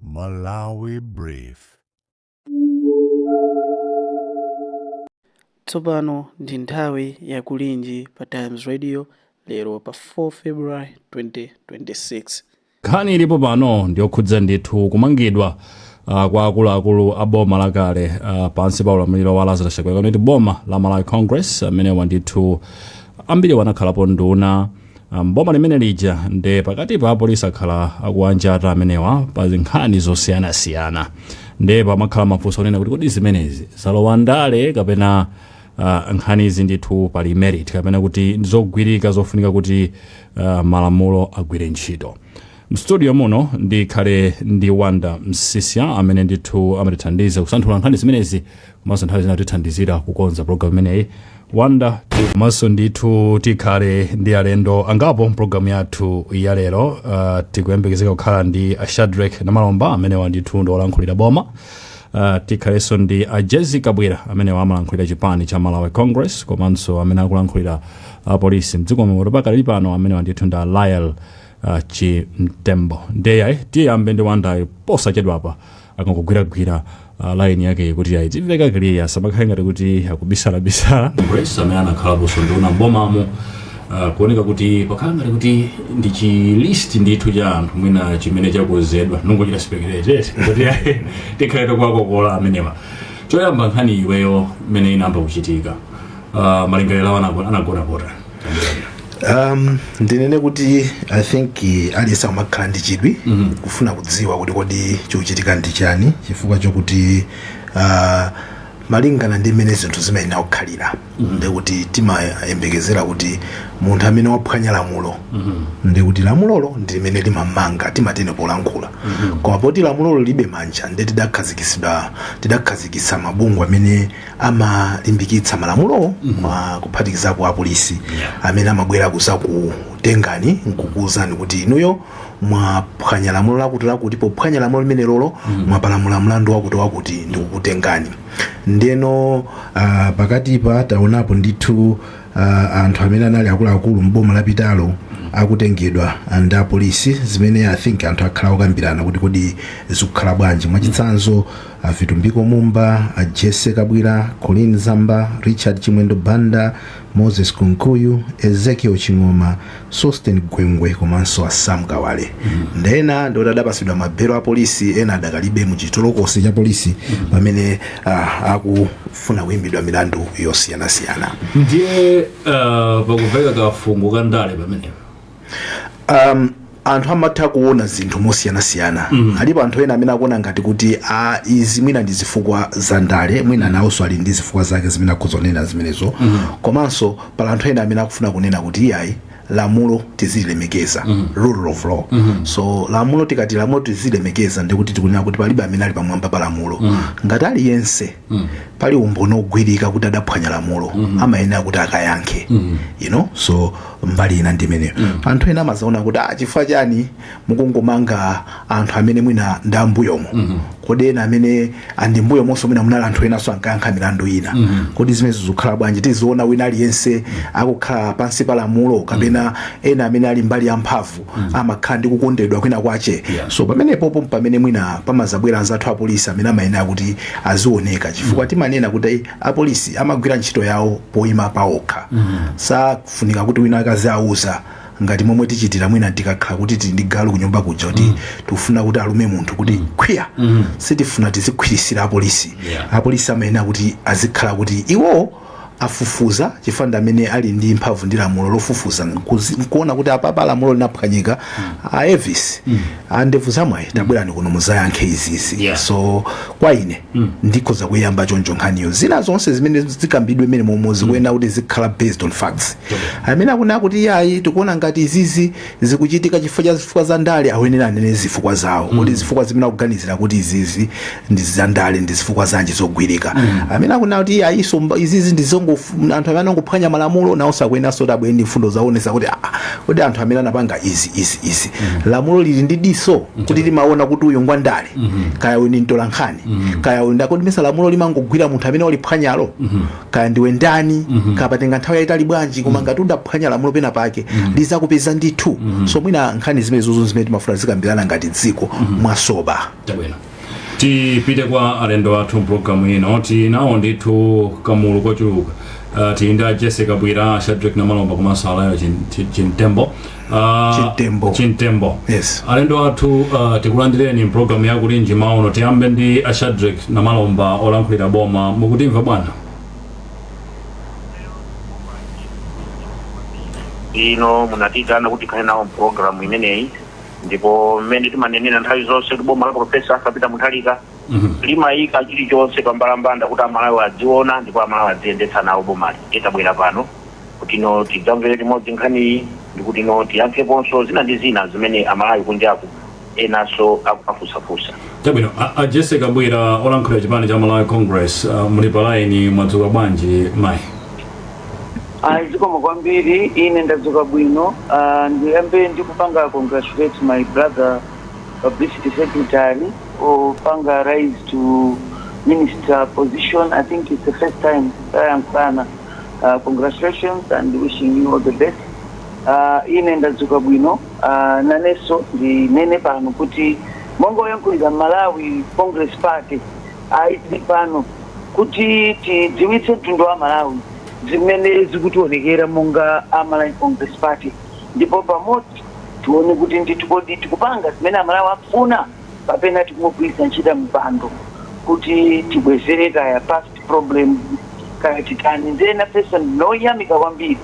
Malawi Brief. Tsopano ndi nthawi ya kulinji pa Times Radio lero pa 4 February 2026. nkhani ilipo pano ndiyokhudza ndithu kumangidwa uh, kwa akuluakulu a boma lakale uh, pansi pa ulamuliro wa lazarus chakwera kapena kuti boma la malawi congress amenewa ndithu ambiri wanakhalapo nduna mboma limene lija nde pakatipa apolisi akhala akuwanjata amenewa pa nkhani zosiyanasiyana nde pamakhala mafunso onena kuti kodi zimenezi zalowa ndale kapena uh, nkhanizi ndithu pali merit kapena kuti ndizogwirika zofunika kuti uh, malamulo agwire ntchito mstudio muno ndikhale ndi Wonder Msiska amene ndithu amatithandiza kusanthula nkhani zimenezi komanso nthawi zina kutithandizira kukonza programu imeneyi Wonder komanso ndithu tikhale ndi alendo angapo mpulogalamu yathu ya lero uh, tikuyembekezeka kukhala ndi a Shadric Namalomba amenewa ndithu ndi olankhulira boma Uh, tikhalenso ndi a Jessie Kabwila amene amalankhulira chipani cha malawi congress komanso amene akulankhulira apolisi mdziko muno pakali pano amenewa ndithu ndi a Lael uh, chimtembo ndiye yayi tiyambe ndi Wonder-yo posachedwapa akangogwiragwira uh, laini yake kuti yayi idzimveka clear samakhale ngati kuti akubisalabisala Congress amene anakhalaponso nduna mbomamo uh, kuoneka kuti pakhala ngati kuti ndi chilist ndithu cha anthu mwina chimene chakonzedwa ndungochita speculate kuti yayi tikhale tikuwakokola amenewa choyamba nkhani iweyo imene inayamba kuchitika uh, malingaliro ako anagona pota um, ndinene kuti i think eh, aliyense amakhala ndi chidwi kufuna kudziwa kuti kodi chikuchitika ndi chani chifukwa chokuti uh, malingana ndi mmene zinthu zimayenera kukhalira ndikuti timayembekezera kuti munthu amene waphwanya lamulo ndikuti lamulolo ndi limene limamanga timatene polankhula koma poti lamulolo lilibe manja nde tidakhazikitsidwa tidakhazikitsa mabungwe amene amalimbikitsa malamulowo ma- kuphatikizapo apolisi amene amabwera kuzakutengani nkukuwuzani kuti inuyo mwaphwanya lamulo lakuti lakuti pophwanya lamulo limenelolo mwapalamula mlandu wakuti wakuti ndikukutengani ndeno uh, pakatipa taonapo ndithu uh, anthu amene anali akuluakulu mboma lapitalo akutengedwa ndi apolisi zimene i think anthu akhala akukambirana kuti kodi zikukhala bwanji mwachitsanzo a Vitumbiko Mumba, a Jessie Kabwila, Colleen Zamba, Richard Chimwendo Banda, Moses Kunkuyu, Ezekiel Ching'oma, Sosten Gwengwe komanso a Sam Kawale. Nde ena ndi oti adapasidwa mabelo a polisi ena adakalipobe mu chitolokosi cha polisi pamene ah, akufuna kuimbidwa milandu yosiyanasiyana. ndiye uh, pakuveka kafungo ka ndale pamenepo um, anthu amatha kuona zinthu mosiyanasiyana mm. alipo anthu ena amene akuona ngati kuti a izi mwina ndi zifukwa za ndale mwina nawonso ali ndi zifukwa zake zimene akhoza kunena zimenezo mm. komanso pali anthu ena amene akufuna kunena kuti iyayi lamulo tizilemekeza mm. rule of law mm-hmm. so lamulo tikati lamulo tizilemekeza ndikuti tikunena kuti palibe amene ali pamwamba pa lamulo mm. ngati aliyense mm. pali umboni ogwirika kuti adaphwanya lamulo mm-hmm. amayenera kuti akayankhe mm-hmm. you know so mbali ina ndi imeneyo anthu ena amazaona kuti ah, chifukwa chani mukungomanga anthu amene mwina ndi ambuyomo kodi ena amene ndi ambuyomonso mwina munali anthu enanso ankayankha milandu ina kodi zimenezo zikukhala bwanji tiziona wina aliyense akukhala pansi pa lamulo kapena ena amene ali mbali ya mphamvu amakhala ndi kukondedwa kwina kwache Yeah. so pamenepopo pamene mwina pamazabwera anzathu apolisi amene amayenera kuti azioneka chifukwa timanena kuti apolisi amagwira ntchito yawo poima paokha safunika kuti wina akaziwauza ngati momwe tichitira mwina tikakhala kuti tili ndi galu kunyumba kuja kuti tikufuna kuti alume munthu kuti khwiya sitifuna tizikhwirizira apolisi Yeah. apolisi amayenera kuti azikhala kuti iwo afufuza chifukwa ndi amene ali ndi mphamvu ndi lamulo lofufuza nkuzi- nkuona kuti apapa lamulo linaphwanyika a Elvis a ndevu zamwayi tabwerani kuno muzayankhe izizi Yeah. so kwa ine ndikhoza kuiyamba choncho nkhaniyo zina zonse zimene zikambidwe mmene momwe zikuyenera kuti zikhale based on facts amene akunena kuti yayi tikuona ngati izizi zikuchitika chifukwa cha zifukwa za ndale ayenera anene zifukwa zawo kuti zifukwa zimene akuganizira kuti izizi ndi zandale ndi zifukwa zanji zogwirika amene akunena kuti ayiso mba- izizi ndi zongo anthu amene angophwanya malamulo nawonso akuyeneranso kuti abwere ndi mfundo zoonesa kuti ah, kuti anthu amene anapanga izi izi izi lamulo lilibe diso kuti limaona kuti uyu ngwandale kaya uyu ndi mtolankhani kaya uyu ndi academician lamulo limangogwira munthu amene waliphwanyalo kaya ndiwe ndani kaya patenga nthawi yayitali bwanji koma ngati udaphwanya lamulo pena pake lizakupeza ndithu so mwina nkhani zimenezozo zimene timafuna tizikambirana ngati dziko mwa sober chabwino tipite kwa alendo athu mpulogalamu ino tinawo ndithu kamulu kochuluka uh, tili ndi a jesse kabwila a shadric namalomba komanso alayo Chin- Chin- chintembo uh, Chintembo. chintembo Yes. alendo athu uh, tikulandireni mpulogalamu ya kulinji m'mawa uno tiyambe ndi a shadric namalomba olankhulira boma mukutimva bwana inde munatiitana kuti tikhale nawo mpulogalamu imeneyi ndipo mmene timanenera nthawi zonse kuti boma la profesa Arthur Peter Mutharika limayika chilichonse pambalambanda kuti amalawi adziona ndipo amalawi adziyendetsa nawo bomali ndiye tabwera pano kuti no tidzamvere limodzi nkhaniyi ndikuti no tiyankheponso zina ndi zina zimene amalawi kunjaku enanso akumafunsafunsa chabwino a- a jesse kabwila olankhulira chipani cha malawi congress uh, muli palaini mwadzuka bwanji mayi Ayi, zikomo kwambiri. Ine ndadzuka bwino. Ah, ndiyambe ndi kupanga congratulate my brother publicity secretary opanga rise to minister position. I think it's the first time tayankhulana. Ah, congratulations and wishing you all the best. Ah, ine ndadzuka bwino. Ah, nanenso ndinene pano kuti monga woyankhulira Malawi Congress Party Ayi tili pano kuti tidziwitse mtundu wa Malawi zimene zikutionekera monga a Malawi Congress Party ndipo pamodzi tione kuti ndithu kodi tikupanga zimene Amalawi akufuna kapena tikungogwiritsa ntchito mipando kuti tibwezere kaya past problems kaya titani. Ndiye nafenso ndine woyamika kwambiri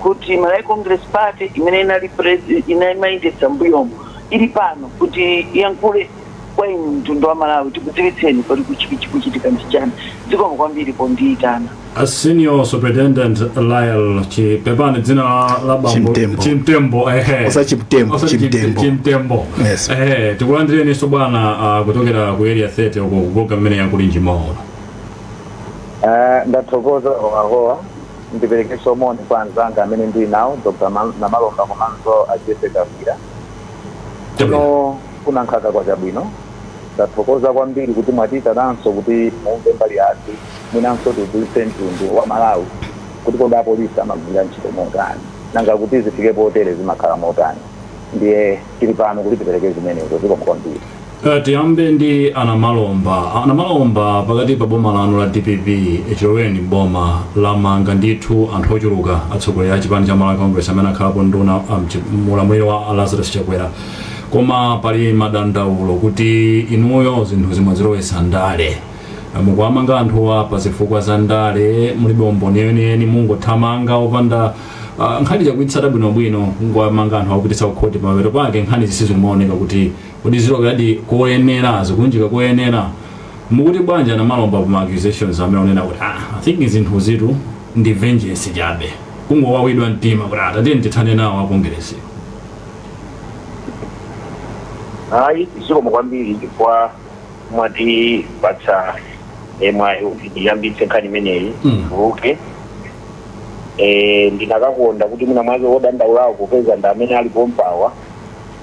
kuti Malawi Congress Party imene inali pres- ina inkayendetsa m'mbuyomo ili pano kuti iyankhule kwa inu mtundu wa malawi tikudziwitseni kodi kuchiki chikuchitika ndi chani zikomo kwambiri pondiitana A senior superintendent Lyle Chi pepani dzina la- la bambo Chimtembo. Chimtembo ehe. Osati Chimtembo, Osati Chim- Chimtembo. Chimtembo. Yes. Ehe, tikulandireninso bwana ah, kuchokera ku area 30 uko ku Lingadzi mmene ya Kulinji maola. Eh, ndathokoza a Howahowa ndiperekenso moni kwa anzanga amene ndili nawo dr Ma- namalomba komanso a Jessie Kabwira kuno kuna nkhaka kwa chabwino tathokoza kwambiri kuti mwatiitananso kuti mumve mbali yathu mwinanso tidziwitse mtundu wa malawi kuti kodi apolisi amagwira ntchito motani nanga kuti zifike potere zimakhala motani ndiye tili pano kuti tipereke zimenezo zikomo kwambiri Tiyambe ndi a Namalomba. A Namalomba pakati pa boma lanu la dpp chiloweleni m'boma lamanga ndithu anthu ochuluka atsogoleri a chipani cha Malawi Congress amene akhalapo nduna mu ulamuliro wa a Lazarus Chakwera koma pali madandaulo kuti inuyo zinthuzi mwadzilowetsa ndale. Mukuwamanga anthuwa pa zifukwa za ndale mulibe umboni weniweni mukungothamanga opanda ah, nkhani osaitsata bwinobwino kungowamanga anthu kuwapititsa kukhoti pamapeto pake nkhanizi sizikumaoneka kuti kodi ziloweradi koyenera zikulunjika koyenera mukuti bwanji a Namalomba pa ma accusations amene akunena kuti ah, i think zinthuzitu ndi vengeance chabe kungowawidwa mtima kuti atateni tithane nawo akongeresi ayi zikomo kwambiri chifukwa mwatipatsa eh, mwayi kuti ndiyambitse nkhani imeneyi Mm. okay eh, ndikanakonda kuti mwina mwake wodandaulawo kupeza ndi amene ali pompawa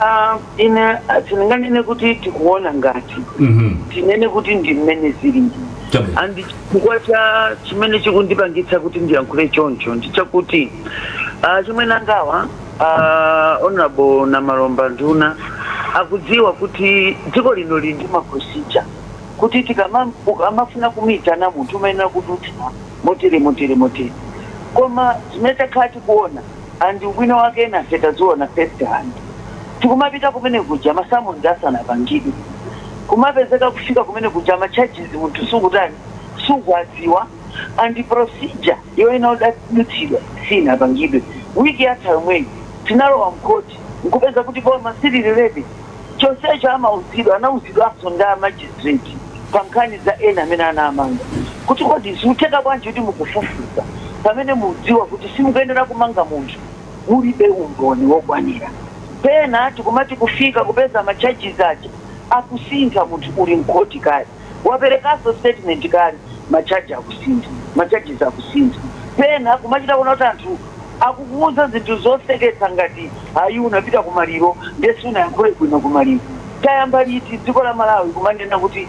Ah, ine ah, sindinganene kuti tikuona ngati Mhm. tinene kuti ndi mmene zilili Chabwino. and chifukwa cha chimene chikundipangitsa kuti ndiyankhule choncho ndi chakuti achimwene angawa ah, honorable Namalomba nduna akudziwa kuti dziko lino lili ndi maprosija kuti tikama- ukamafuna kumuyitana munthu umayenera kudutsa motere motere motere koma zimene takhala tikuona and ubwino wake enafe taziona first hand tikumapita kumene kuja ma summons asanapangidwe kumapezeka kufika kumene kuja ma charges munthu sukutani sukuwadziwa and procedure yoyenera kudutsidwa sinapangidwe week yatha yomweyi tinalowa mkhoti nkupeza kuti boma silili ready chonsecho amauzidwa anauzidwanso ndi a magistrate pa nkhani za ena amene anamanga kuti kodi zikutheka bwanji kuti mukufufuza pamene mudziwa kuti simukuyenera kumanga munthu mulibe umboni wokwanira pena tikumati kufika kupeza ma charges aja akusintha munthu uli mkhoti kale waperekanso statement kale ma charge akusintha ma charges akusintha pena kumachita kuona kuti anthu akukuuza zinthu zoseketsa ngati ayi unapita ku maliro ndiye sunayankhule bwino ku maliro tayamba liti dziko la malawi kumanena kuti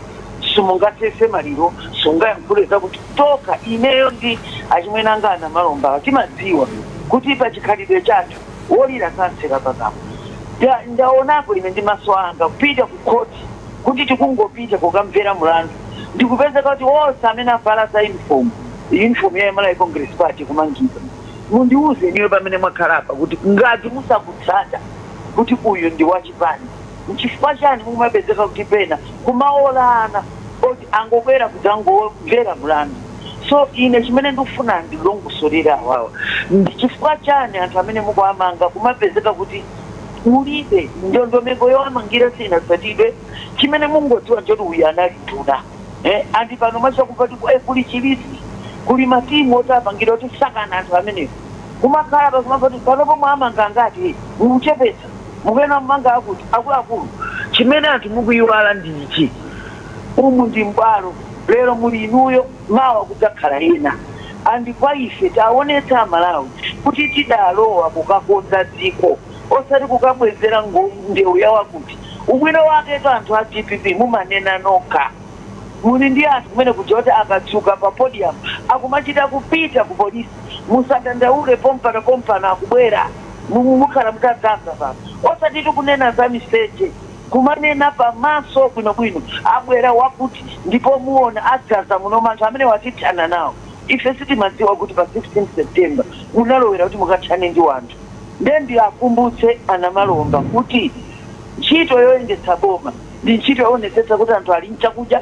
simungasese maliro sungayankhule zakuti tokha ineyo ndi achimwene anga a Namalombawa timadziwa kuti pa chikhalidwe chathu wolira samtseka pakamwa Nda- ndaonapo ine ndi maso anga kupita ku court kuti tikungopita kukamvera mlandu ndikupezeka kuti onse amene avala za uniform uniform ya Malawi Congress Party kumangidwa? Mundiuze inuyo pamene mwakhala apa kuti ngati musakutsata kuti uyu ndi wa chipani, nchifukwa chani mumapezeka kuti pena kumaola ana oti angobwera kudzangomvera mlandu? So ine chimene ndikufuna andilongosolere awawa ndi chifukwa chani anthu amene mukuwamanga kumapezeka kuti kulibe ndondomeko yowamangira sinatsatidwe chimene mungodziwa njoti uyu anali nduna eh, andi pano macha kupati eh, kuli chi list kuli matimu oti apangira kuti sakani anthu amenewo kumakhala pakumapati panopo mwamanga angati mukuchepetsa mukuyenera mumange akuti akuluakulu chimene anthu mukuyiwala ndi ichi umu ndi mbwalo lero muli inuyo mawa kudzakhala ena and kwa ife taonetsa amalawi kuti tidalowa kukakonza dziko osati kukabwezera ngo ndewu ya wakuti. Ubwino waketu anthu a dpp mumanena nokha. Muli ndi anthu kumene kuja oti akatsika pa podium akumachita kupita ku police. Musadandaule pompano pompano akubwera. Mukhala mutadzadza pano. Osati tikunena za miseche. kumanena pamaso bwinobwino abwera wakuti ndipo muona adzaza muno anthu amenewa tithana nawo ife sitimadziwa kuti pa 16 September munalowera kuti mukathane ndi wanthu nde ndiakumbutse a Namalomba kuti ntchito yoyendetsa boma ndi ntchito yoonetsetsa kuti anthu ali nchakudya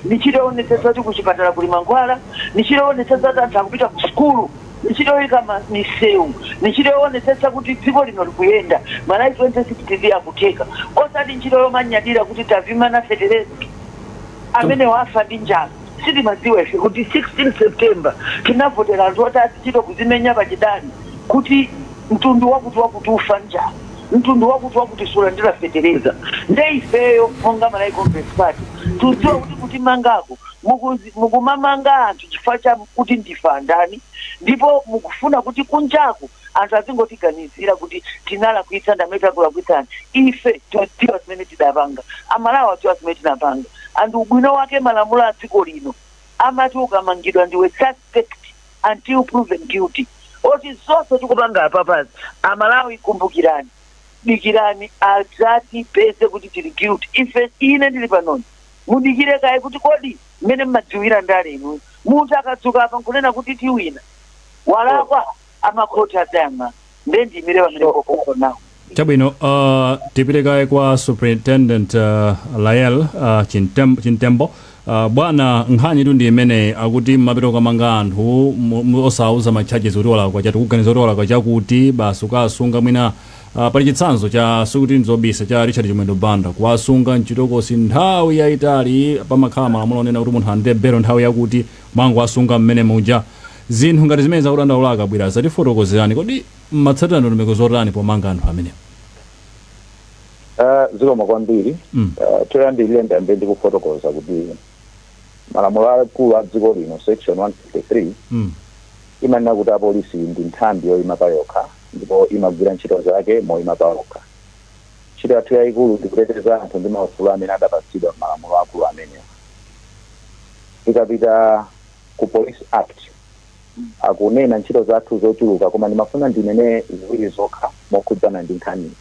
ndi ntchito yoonetsetsa kuti kuchipatala kuli mankhwala ndi ntchito yoonetsetsa kuti anthu akupita ku sukulu Ndi ntchito yoika ma, miseu, ndi ntchito yoonetsetsa kuti dziko lino likuyenda, Malawi 2063 akutheka, osati nchito yomanyadira kuti tavimana fetereza. Amenewo afa ndi njala. Sitimadziwa ife kuti 16 September tinavotera anthu oti azichita kuzimenya pachidali kuti mtundu wakuti wakuti ufa njala, mtundu wakuti wakuti sulandira fetereza. Nde ifeyo monga Malawi Congress Party tudziwa kuti kutimangako Mukuzi, mukumamanga anthu chifukwa cha kuti ndife andani ndipo mukufuna kuti kunjaku anthu azingotiganizira kuti tinalakwitsa ndi amene takulakwitsani. Ife tikudziwa zimene tidapanga, Amalawi akudziwa zimene tinapanga and ubwino wake malamulo a dziko lino amati ukamangidwa ndiwe suspect until proven guilty. Oti zonse tikupanga apapazi, Amalawi kumbukirani, dikirani adzatipeze kuti tili guilty. Ife, ine ndili panoni mudikire kaye kuti kodi mmene mmadziwira ndale inu munthu akadzuka apa nkunena kuti tiwina walakwa amakhoti adzayang'ana nde ndiyimire pamene So- popopo nawo chabwino uh, tipite kaye kwa superintendent uh, Lael uh, Chimtem- Chimtembo uh, bwana nkhanitu ndi imene akuti mmapita kukamanga anthu mu- mu- osauza macharges kuti walakwa chati kuganiza kuti walakwa chakuti basi ukasunga mwina Pali chitsanzo cha sikuti nzobisa cha Richard Chimwendo Banda kuwasunga mchitokosi nthawi yaitali pamakhala malamulo onena kuti munthu alandire belo nthawi yakuti mwangowasunga mmene muja. Zinthu ngati zimenezi akudandaula a Kabwira zatifotokozerani kodi mmatsatira ndondomeko zotani pomanga anthu amenewa? Zikomo kwambiri. Choyambirira ndiyambe ndi kufotokoza kuti malamulo akulu a dziko lino section 153, imanena kuti apolisi ndi nthambi yoima payokha ndipo imagwira ntchito zake moima payokha. Ntchito yathu yaikulu ndi kuteteza anthu ndi maufulu amene adapatsidwa m'malamulo akulu amenewa. Tikapita ku Police Act, akunena ntchito zathu zochuluka koma ndimafuna ndinene ziwiri zokha mokhudzana ndi nkhaniyi.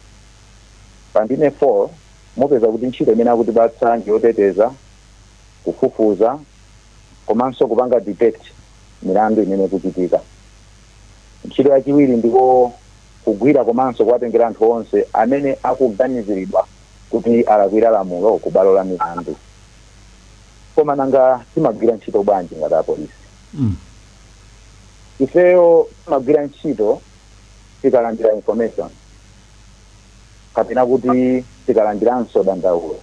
Pa ndime 4, mupeza kuti ntchito imene akutipatsa ndi yoteteza, kufufuza komanso kupanga detect. milandu imene ikuchitika. Ntchito yachiwiri ndiko kugwira komanso kuwatengera anthu onse amene akuganiziridwa kuti alakwira lamulo ku bwalo la milandu. Koma nanga timagwira ntchito bwanji ngati apolisi? Mm. Ifeyo timagwira ntchito tikalandira information kapena kuti tikalandiranso dandaulo.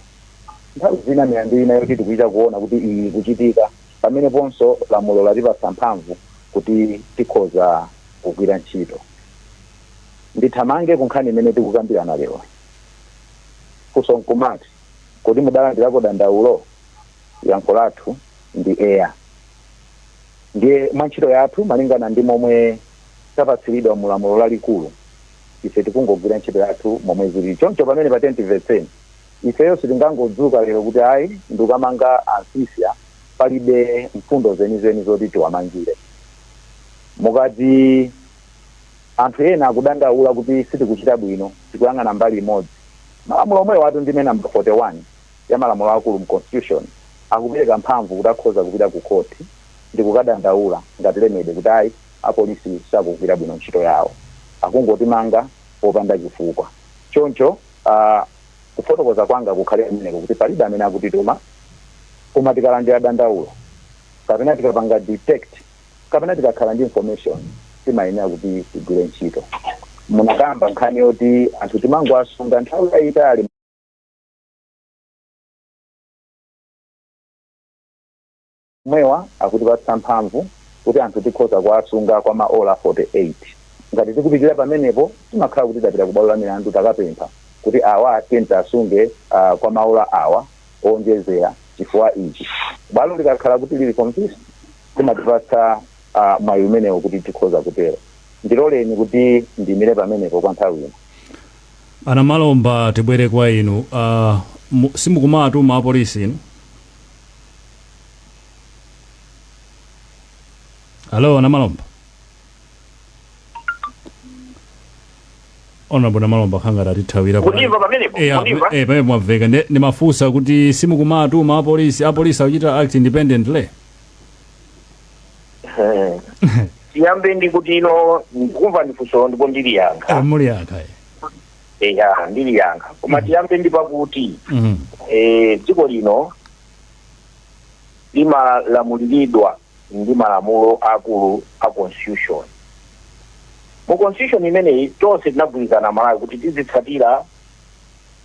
Nthawi zina milandu ina yoti tikuchita kuona kuti iyi ikuchitika Pameneponso, lamulo latipatsa mphamvu kuti tikhoza kugwira ntchito. Ndithamange ku nkhani imene tikukambirana leroyi. Funso n'kumati, Kodi mudalandirako dandaulo? Yankho lathu ndi eya. Ndiye mwa ntchito yathu malingana ndi momwe tapatsiridwa mu lamulo lalikulu, ife tikungogwira ntchito yathu momwe zilili. Choncho pamenepa tiyeni timvetseni. Ifeyo sitingangodzuka lero kuti ayi ndikukamanga a Nsisya palibe mfundo zenizeni zoti tiwamangire. Mukati anthu ena akudandaula kuti sitikuchita bwino, tikuyang'ana mbali imodzi, malamulo omwewatu ndime number 41 ya malamulo aakulu mu Constitution akupereka mphamvu kuti akhoza kupita kukhoti ndikukadandaula ngati remedy kuti ayi apolisi sakugwira bwino ntchito yawo, akungotimanga popanda chifukwa. Choncho. Ah, kufotokoza kwanga kukhale kumeneko kuti palibe amene akutituma koma tikalandira dandaulo kapena tikapanga detect kapena tikakhala ndi information timayenera kuti tigwire ntchito munakamba nkhani yoti anthu timangowasunga nthawi yayitali Omwewa akutipatsa mphamvu kuti anthu tikhoza kuwasunga kwa maola 48. Ngati tikupitirira pamenepo, timakhala kuti tapita kubwalo la milandu takapempha kuti awa tiyeni tiwasunge kwa maola awa owonjezera chifukwa ichi. Bwalo likakhala kuti lili convinced, limatipatsa mwayi umenewo kuti tikhoza kutero. Ndiloleni kuti ndiimire pamenepo kwa nthawi ino. A Namalomba, tibwere kwa inu. Simukumatuma apolisi inu? Hello a Namalomba honorable namalomba kukhala ngati atithawira pa- Mukundimva pamenepo? Eh, Mukundimva? eh, pamenepo mwamveka Ndi- ndimafunsa kuti simukumatuma apolisi apolisi akuchita act independently Eh. tiyambe ndi kuti ino ndikumva ndifunso ndipo ndiliyankha Ah, muliyankha eh. eya ndiliyankha koma tiyambe ndi pakuti Mhm. eh, dziko lino limalamuliridwa ndi malamulo aakulu a Constitution. Mu Constitution imeneyi tonse tinagwirizana Amalawi kuti tizitsatira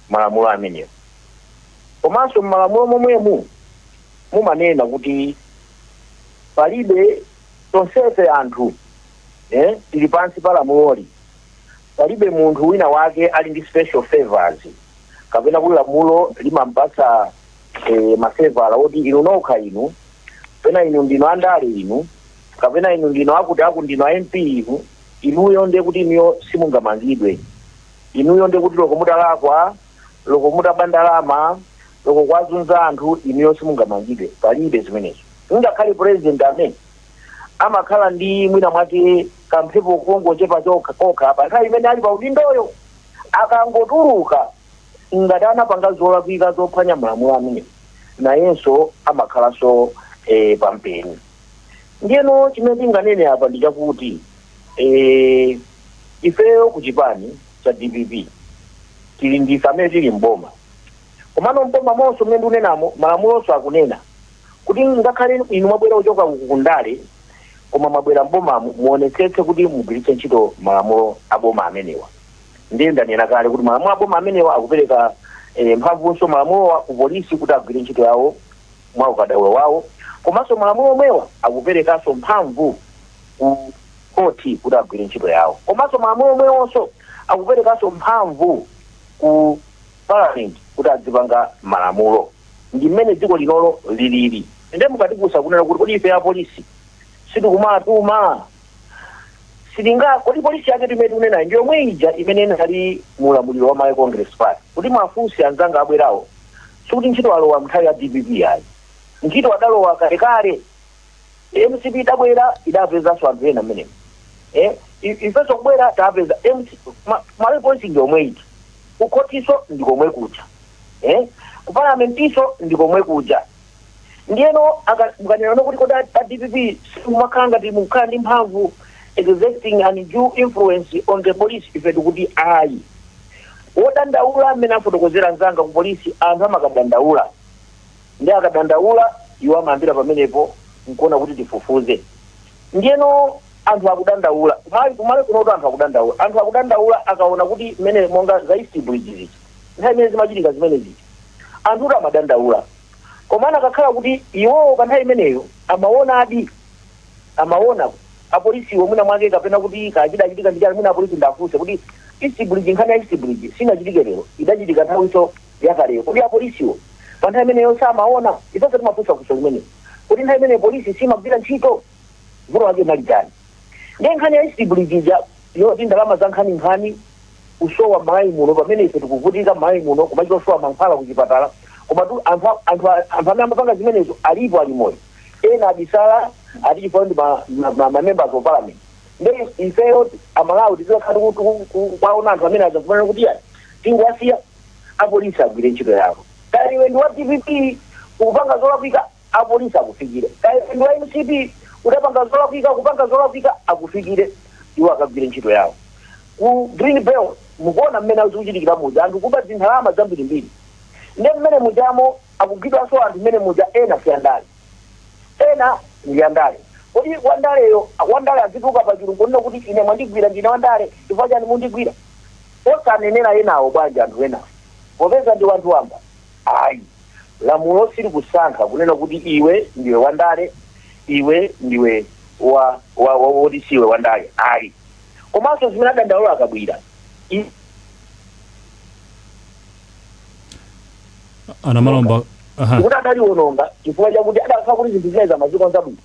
malamulo amenewo. Komanso m'malamulo momwemu mumanena kuti palibe, tonsefe anthu eh, tili pansi pa lamuloli. Palibe munthu wina wake ali ndi special favours kapena kuti lamulo limampatsa e, mafeva oti inu nokha inu kapena inu ndinu andale inu kapena inu ndinu akuti aku ndinu a MP inu inuyo ndiye kuti inuyo simungamangidwe inuyo ndiye kuti loko mutalakwa loko mutaba ndalama loko kwazunza anthu inuyo simungamangidwe palibe zimenezo ngakhale president amene amakhala ndi mwina mwake kamphepo kongochepa kokha pa nthawi imene ali pa udindoyo akangotuluka ngati anapanga zolakwika zophwanya malamulo amene nayenso amakhalanso eh, pampeni ndiyeno chimene tinganene apa ndi chakuti eh, ifeyo ku chipani cha dpp tili ndife amene tili mboma komano mbomamonso mmene ndikunenamo malamulonso akunena Kuti ngakhale inu mwabwera kuchoka uku ku ndale koma mwabwera m'bomamo muonetsetse kuti mugwiritse ntchito malamulo a boma amenewa. Ndiye ndanena kale kuti malamulo a boma amenewa akupereka eh, mphamvunso malamulowa ku polisi kuti agwire ntchito yawo mwa ukadaulo wawo komanso malamulo omwewa akuperekanso mphamvu ku khoti kuti agwire ntchito yawo komanso malamulo omwewonso akuperekanso mphamvu ku Parliament kuti adzipanga malamulo. Ndi mmene dziko linoli lilili. Nde mukatifunsa kunena kuti kodi ife apolisi sitikumawatuma? Sitinga, kodi polisi yaketu imene tikunenayi ndi yomwe ija imene inali mu ulamuliro wa Malawi Congress Party? Kuti muwafunse anzanga abwerawo, sikuti ntchito alowa m'nthawi ya dpp ayi. Ntchito adalowa kalekale. Ndiye mcp idabwera idapezanso anthu ena mmenemo eh, i- ifenso kubwera tapeza MC ma- malawi police ndi omwe eti kukhotinso ndi komwe kuja eh, ku parliamentinso ndi komwe kuja ndiyeno aka- mukanenano kuti kodi a a dpp simumakhala ngati mukukhala ndi mphamvu exerting an undue influence on the police ife tikuti ayi wodandaula mmene afotokozera anzanga ku polisi anthu amakadandaula Ndiye akadandaula, iwo amayambira pamenepo n'kuona kuti tifufuze. Ndiyeno anthu akudandaula, kumali, ku Malawi kunotu anthu akudandaula. Anthu akudandaula akaona kuti mmene monga za East Bridge zija, nthawi imene zimachitika zimene zija, anthutu amadandaula. Komano akakhala kuti iwowo pa nthawi imeneyo amaonadi, amaona apolisiwo mwina mwake kapena kuti kaya chidachitika ndi chani, mwina apolisi ndiwafunse kuti East Bridge, nkhani ya East Bridge sinachitike lero, idachitika nthawinso yakaleyo. Kodi apolisiwo pa nthawi imeneyo samaona? Ifenso timafunsa funso limeneli. Kodi nthawi imeneyo polisi simagwira ntchito? Vuto lake linali chani? Ndiye nkhani ya East Bridge ija yoti ndalama za nkhaninkhani kusowa m'Malawi muno pamene ife tikuvutika m'Malawi muno kumachita kusowa mankhwala ku chipatala komatu anthu a- anthu a- anthu amene amapanga zimenezo alipo ali moyo ena abisala ati chifukwa ndi ma- ma- ma- ma members of parliament ndiye ifeyo amalawi tizikhala kuwaona anthu amene aja kumene kuti ya tingowasiya apolisi agwire ntchito yawo. Kaya iwe ndi wa DPP ukupanga zolakwika, apolisi akufikire. Kaya iwe ndi wa MCP udapanga zolakwika, ukupanga zolakwika, akufikire. Iwo akagwire ntchito yawo. Ku Green Belt mukuona mmene zikuchitikira muja, anthu kuba zindalama zambirimbiri. Nde mmene mujamo akugwidwanso anthu mmene muja, ena si andale, ena ndi andale. Kodi wandaleyo, wandale azituluka pachulu nkunena kuti ine mwandigwira ndine wandale, chifukwa chani mundigwira? Osanenera enawo bwanji anthu enawo popeza ndi wanthu wamba? Ayi lamulo silikusankha kunena kuti iwe ndiwe wandale iwe ndiwe wa wa wa woti siwe wandale ayi komanso zimene adandaula a Kabwira Anamalomba. Aha. kuti adaliononga chifukwa chakuti adakhala kuti zinthu zinazi amazikonza bwino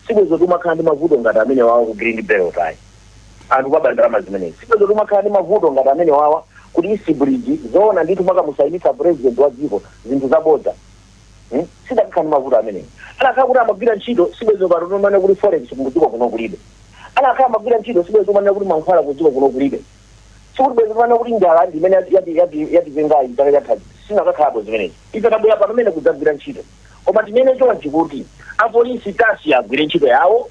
sibwezi tikumakhala ndi mavuto ngati amenewawa ku Green Belt ayi anthu kumaba ndalama zimenezi sibwezi tikumakhala ndi mavuto ngati amenewawa kuti East Bridge zoona ndithu kukamusayinitsa president wa dziko zinthu zabodza Hmm? sitidakakhala ndi mavuto amenewo anakhala kuti amagwira ntchito sibwezi pano tikumanena kuti forex kudziko kuno kulibe anakhala amagwira ntchito sibwezi tikumanena kuti mankhwala kudziko kuno kulibe sikuti bwezi tikumanena kuti njala ndi imene yati- yati- yati- yatipengayi chaka chathachi sizinakakhalapo zimenezi ife tabwera pano mene kudzagwira ntchito koma tinene chonchi kuti apolisi tawasiya agwire ntchito yawo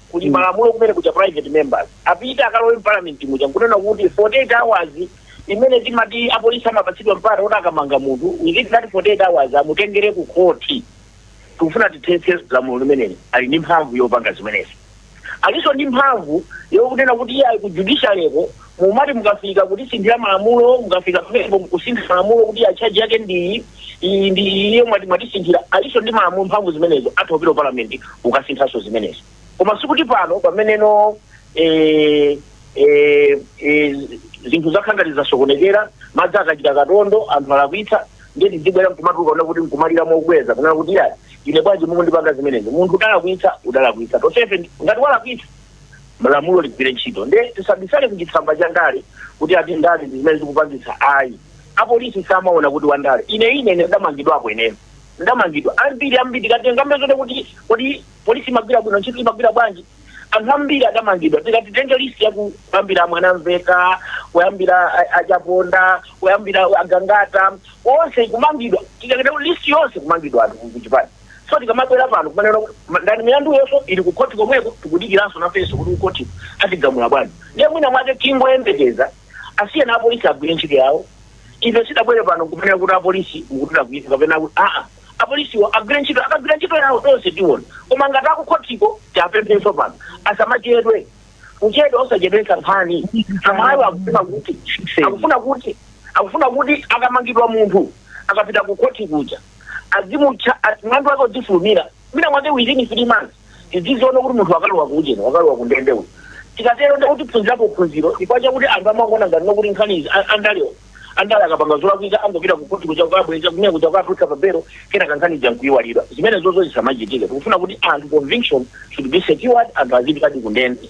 kuli mm. malamulo kumene kuja private members apite akalowe mparliament muja nkunena kuti 48 hours imene timati apolisi amapatsidwa mpata kuti akamanga munthu within that 48 hours amutengere ku khoti tikufuna tithetse lamulo limeneli ali ndi mphamvu yopanga zimenezi alinso ndi mphamvu yokunena kuti iye ali ku judiciary-ko Mumati mukafika kutisinthira malamulo, mukafika pamenepo mkusintha malamulo kuti ya charge yake ndi iyi, iyi ndi iyi iyi mwati mwatisinthira alinso ndi malamulo mphamvu zimenezo atha kupita ku parliament kukasinthanso zimenezo. Koma sikuti pano pameneno eh, eh, eh, zinthu zakhala ngati zasokonekera madzi achita katondo anthu alakwitsa ndiye tidzibwera nkumatuluka kunena kuti nkumalira mokweza kunena kuti ya ine bwanji mukundipanga zimenezi munthu udalakwitsa udalakwitsa tonsefe ngati walakwitsa lamulo ligwire ntchito nde tisabisale kuchitsamba cha ndale kuti ati ndale ndi zimene zikupangitsa ayi apolisi samaona kuti wandale ine ine ine ndamangidwapo ineyo ndamangidwa ambiri ambiri tikatengambe zote kuti kodi polisi imagwira bwino ntchito imagwira bwanji anthu ambiri adamangidwa tikati tenge list ya kuyambira Mwanamveka kuyambira a- achaponda kuyambira agangata onse kumangidwa tikakita list yonse kumangidwa anthu kuchipani So tikamabwera pano kumanena kuti ma- ndani milanduyonso ili ku khoti komweko tikudikiranso nafenso kuti kukhoti atigamula bwanji ndiye mwina mwake tingoyembekeza asiyeni apolisi agwire ntchito yawo ife sitidabwere pano kumanena kuti apolisi mukuchita kuipa kapena kuti aa apolisiwo agwire ntchito akagwira ntchito yawo tonse tiona koma ngati akukhotiko tiapemphenso pano asamachedwe kuchedwa osachedwetsa nkhani amalawi akufuna kuti akufuna kuti akufuna kuti akamangidwa munthu akapita ku khoti kuja azimutchaja mlandu wake udzifulumira mwina mwake within three months tidziziona kuti munthu wakalowa kuujeni wakalowa kundende uyu tikatero ndikuti tiphunzirapo phunziro chifukwa chakuti anthu amangoona ngati nokuti nkhani izi a- andalewo andale akapanga zolakwika angopita kukhoti kuja kukabweza kumene kuja kukapatsidwa pabelo kenaka nkhani ija nkuyiwalidwa zimene zozo zisamachitike tikufuna kuti anthu conviction should be secured anthu azipitadi kundende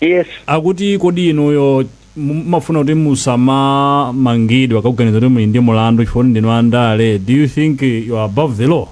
Yes. akuti kodi inuyo mu- mumafuna kuti musamamangidwe akaganiza kuti muli ndi mulandu chifukwa kuti ndinu andale do you think you are above the law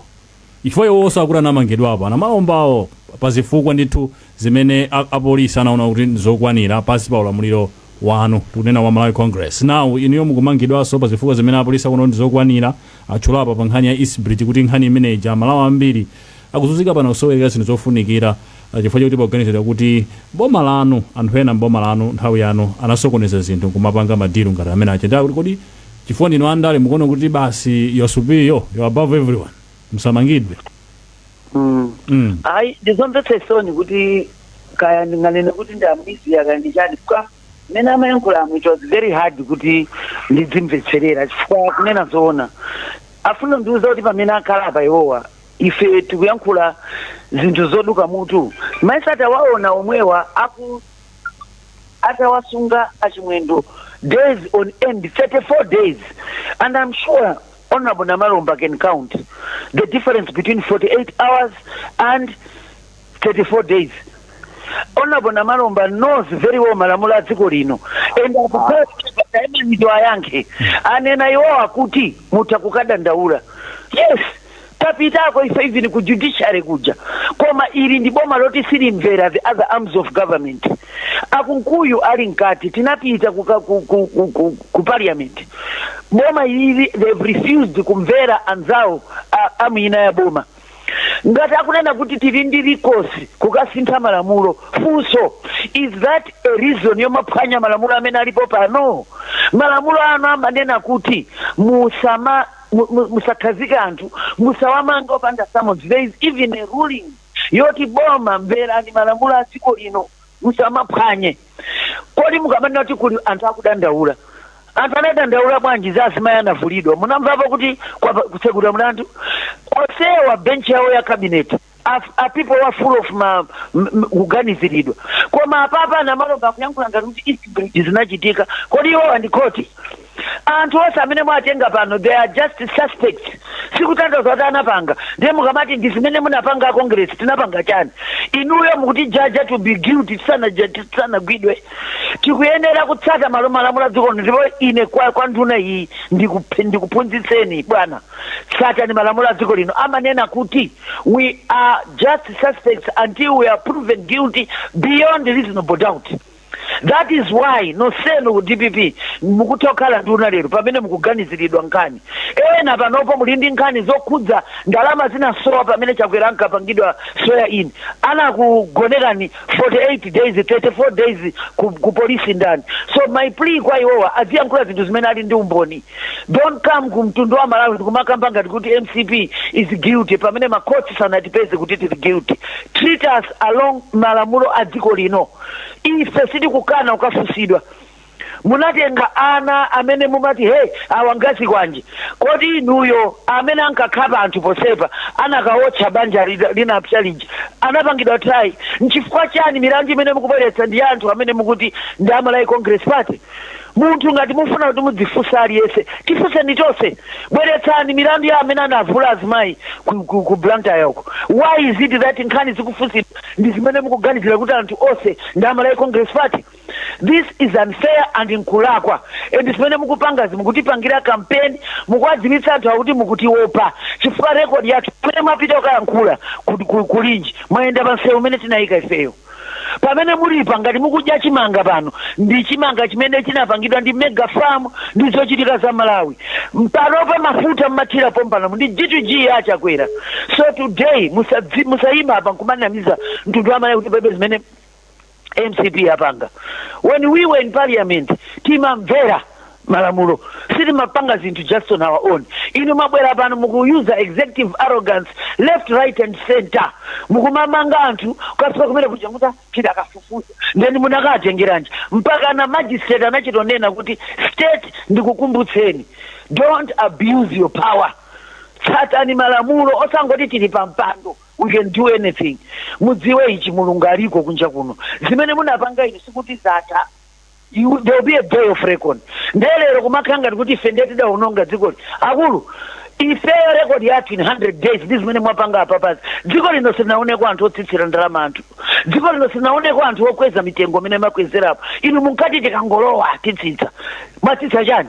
chifukwa iwonso akuti anamangidwapo anamalombawo pa zifukwa ndithu zimene a- apolisi anaona kuti ndizokwanira pansi pa ulamuliro wanu tikunena wa malawi congress now inuyo mukumangidwanso pa zifukwa zimene apolisi akuona kuti ndizokwanira atchula apa pa nkhani ya eastbridge kuti nkhani imene ija amalawi ambiri akuzunzika pano kusowerera zinthu zofunikira a Chifukwa chokuti poganizidwa kuti m'boma lanu, anthu ena m'boma lanu nthawi yanu anasokoneza zinthu nkumapanga ma deal ngati amene achita. Ndiye akuti kodi chifukwa ndinu a ndale mukuona kuti basi you're superior, you're above everyone, musamangidwe? Mm. mm. Ayi, ndizomvetsa chisoni kuti kaya ndinganene kuti ndi amiziya kaya ndi chani chifukwa mmene amayankhuliramu it was very hard kuti ndidzimvetserera chifukwa kunena zoona afuna ndiuza kuti pamene akhala apa iwowa ife tikuyankhula zinthu zoduka mutu mmayesa tawaona omwewa atawasunga achimwendo days on end 34 days and i'm sure honorable namalomba can count the difference between 48 hours and 34 days honorable namalomba knows very well malamulo a dziko lino and akupaaimanido ayankhe anena iwo akuti mutha kukadandaula yes tapitako ife even ku judiciary kuja koma ili ndi boma loti silimvera the other arms of government akunkuyu ali mkati tinapita kuka- ku, ku, ku, ku, ku parliament boma ili they've refused kumvera anzawo a- arm ina ya boma ngati akunena kuti tili ndi recourse kukasintha malamulo funso is that a reason yomaphwanya malamulo amene alipo pano malamulo anu amanena kuti musama mu- mu- musakhazike anthu musawamange opanda summons there is even a ruling yoti boma mverani malamulo a dziko lino musamaphwanye Kodi mukamanena kuti kuli anthu akudandaula, anthu anadandaula bwanji za azimayi anavulidwa? Munamvapo kuti kwapa kutsegulidwa mlandu? Onsewa bench yawo ya cabinet a, a people were full of ma m- m- kuganiziridwa. Koma apapa a Namalomba akuyankhula ngati kuti East Bridge zinachitika. Kodi iwo ndi court? Anthu onse amene mwatenga pano they are just suspects sikutanthauza kuti anapanga ndiye mukamati ndi zimene munapanga a Congress tinapanga chani inuyo mukutijaja to be guilty tisanaja- tisanagwidwe tikuyenera kutsata malo malamulo a dziko lino ndipo ine kwa, kwa nduna iyi ndikup- ndikuphunzitseni bwana tsatani malamulo a dziko lino amanena kuti we are just suspects until we are proven guilty beyond reasonable doubt That is why nonsenu a dpp mukutha kukhala nduna lero pamene mukuganiziridwa nkhani. Ena panopo muli ndi nkhani zokhudza ndalama zinasowa pamene Chakwera ankapangidwa swear in. Anakugonekani 48 days, 34 days ku ku police ndani? So my plea kwa iwowa aziyankhula zinthu zimene ali ndi umboni. Don't come ku mtundu wa Malawi kumakamba ngati kuti mcp is guilty pamene ma courts sanatipeze kuti tili guilty. Treat us along malamulo a dziko lino. Ife sitikukana kukafunsidwa. Munatenga ana amene mumati he awa nga zikwanje. Kodi inuyo amene ankakhapa anthu pa Msundwe anakawotcha banja linapsa lija anapangidwa try? Nchifukwa chani milandu imene mukubweretsa ndi anthu amene mukuti ndi a Malawi Congress Party? Munthu ngati mufuna kuti muzifunsa aliyense tifunseni tonse bweretsani milandu ya amene anavula azimayi ku, ku, ku Blantyre uko. Why is it that nkhani zikufunsidwa ndi zimene mukuganizira kuti anthu onse ndi a Malawi Congress Party? This is unfair and nkulakwa and zimene mukupangazi mukutipangira campaign mukuwadziwitsa anthuwa kuti mukutiopa chifukwa record yathu pamene mwapita kukayankhula ku, ku, ku Mchinji mwayenda pa msewu umene tinayika ifeyo. pamene mulipa ngati mukudya chimanga pano ndi chimanga chimene chinapangidwa ndi mega farm ndi zochitika za malawi panopa mafuta mmathira pompano ndi g2g ya chakwera so today musadzi- musayima apa nkumanamiza mtundu wa malawi kuti palibe zimene mcp apanga when we were in parliament timamvera malamulo sitimapanga zinthu just on our own inu mwabwera pano mukuyuza executive arrogance left right and center mukumamanga anthu kukafika kumene kuja kuti pita akafufuza ndeni munakatengeranji mpaka na magistrate anachitonena kuti state ndikukumbutseni don't abuse your power tsatani malamulo osangoti tili pa mpando we can do anything mudziwe ichi mulungu aliko kunja kuno zimene munapanga inu sikuti zatha There will be a day of reckoning. Ndiye lero kumakhala ngati kuti ife ndiye tidaononga dzikoli. Akulu, ifeyo rekodi yathu in 100 days ndi zimene mwapanga apapazi. Dziko lino silinaoneko anthu otsitsira ndalama anthu. Dziko lino silinaoneko anthu okweza mitengo imene makwezerapo. Inu munkati tikangolowa titsitsa. Mwatsitsa chiyani?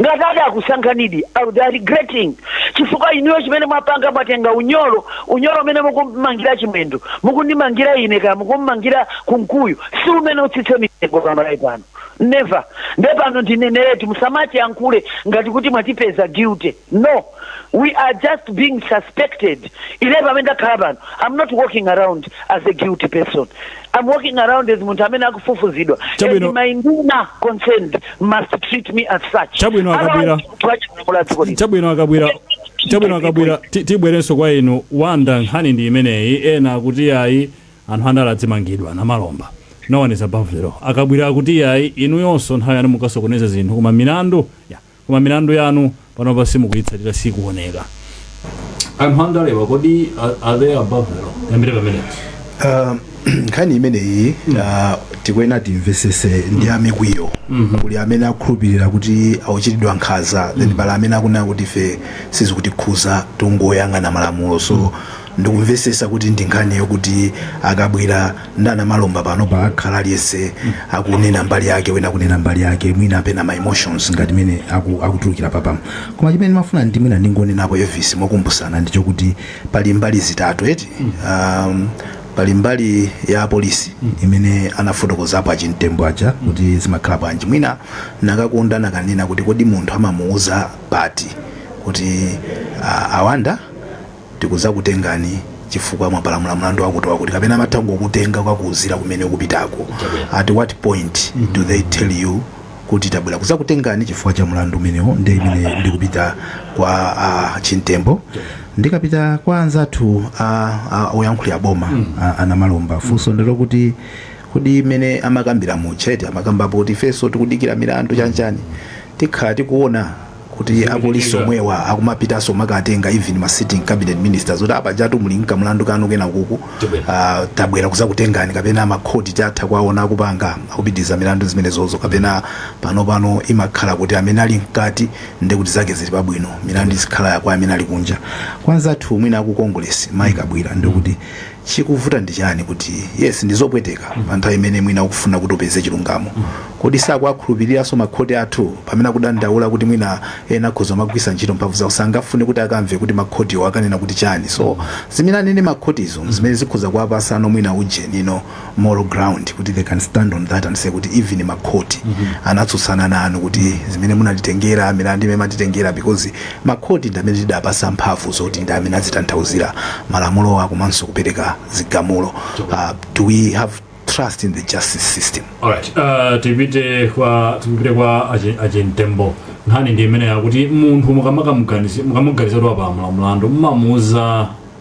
Ngati atakusankhanidi, they are regretting chifukwa inuyo chimene mwapanga mwatenga unyolo, unyolo umene mukummangira Chimwendo mukundimangira ine kaya mukummangira Kunkuyu si umene utsitse mitengo pa Malawi pano. Never. Nde pano ndineneretu musamatiyankhule ngati kuti mwatipeza guilty. No. we are just being suspected ine pamene ndakhala pano i'm not walking around as a guilty person i'm walking around as munthu amene akufufuzidwa Chabwino. and my nduna concerned must treat me as such Chabwino, Akabwira. Otherwise, tiwachimula dziko lino. chabwino akabwira chabwino akabwira ti- tibwerenso kwa inu wanda nkhani ndi imeneyi ena akuti yayi anthu andale azimangidwa a Namalomba no one is above the law akabwira akuti yayi inuyonso nthawi yanu munkasokoneza zinthu koma milandu ya Koma milandu yanu panopa simukuyitsatira siikuoneka. Anthu andalewa kodi are, are they above the law? Tiyambire pamenepo. Ah, nkhani imeneyi ah, tikuyenera timvesese ndi ya mikwiyo kuli amene akhulupirira kuti akuchitidwa nkhaza then pali amene akunena kuti ife sizikutikhuza tungoyang'ana malamulo so ndikumvesesa kuti ndi nkhani yokuti a Kabwira ndi a Namalomba panopa akhala aliyense akunena mbali yake wena akunena mbali yake mwina pena ma emotions ngati mene aku- akutulukira apapamu koma chimene ndimafuna ndi mwina ndingonenapo Elvis mokumbusana ndi chokuti pali mbali zitatu eti um, pali mbali ya polisi imene anafotokozapo achimtembo aja kuti zimakhala bwanji mwina nakakonda nakanena kuti kodi munthu amamuuza pati kuti ah, awanda tikudzakutengani chifukwa mwapalamula mlandu wakuti wakuti kapena amatha kungokutenga kukakuuzira kumene ukupitako at what point do they tell you kuti tabwera kudzakutengani chifukwa cha mlandu umenewo nde mmene ndikupita kwa a Chimtembo ndikapita kwa anzathu ah, ah, oyankhulira boma ah, a Namalomba funso ndi lokuti kodi mmene amakambira muchete amakambapo kuti ifenso tikudikira milandu chanchani tikhala tikuona kuti apolisi omwewa akumapitanso makatenga even ma sitting cabinet ministers kuti apajatu muli nkamlandu kanu kenakake uh, tabwera kuzakutengani kapena makhoti titha kuwaona akupanga akupitiriza milandu zimenezozo kapena pano pano imakhala kuti amene ali mkati nde kuti zake zili pabwino milandu izikhala ya kwa amene ali kunja kwa anzathu mwina aku congress mayi kabwira ndikuti Chikuvuta ndi chiyani kuti yes ndizopweteka pa nthawi imene mwina ukufuna kuti upeze chilungamo kodi sakuwakhulupiliranso ma khoti athu pamene akudandaula kuti mwina ena akhoza kumagwiritsa ntchito mphamvu zawo sangafune kuti akamve kuti ma khotiwo akanena kuti chiyani so zimene anene ma khotizo zimene zikhoza kuwapatsano mwina ujenino moral ground kuti they can stand on that and say kuti even ma khoti anatsutsana nanu kuti zimene munatitengera milandu imene mumatitengera because ma khoti ndi amene tidapatsa mphamvu zoti ndi amene azitanthauzira malamulowa komanso kupereka zigamulo uh, do we have trust in the justice system Alright, uh, tipite kwa tipite kwa achi- a Chimtembo nkhani ndi imene yakuti munthu mukamakamuganiza mukamuganiza kuti wapala mlandu mmamuuza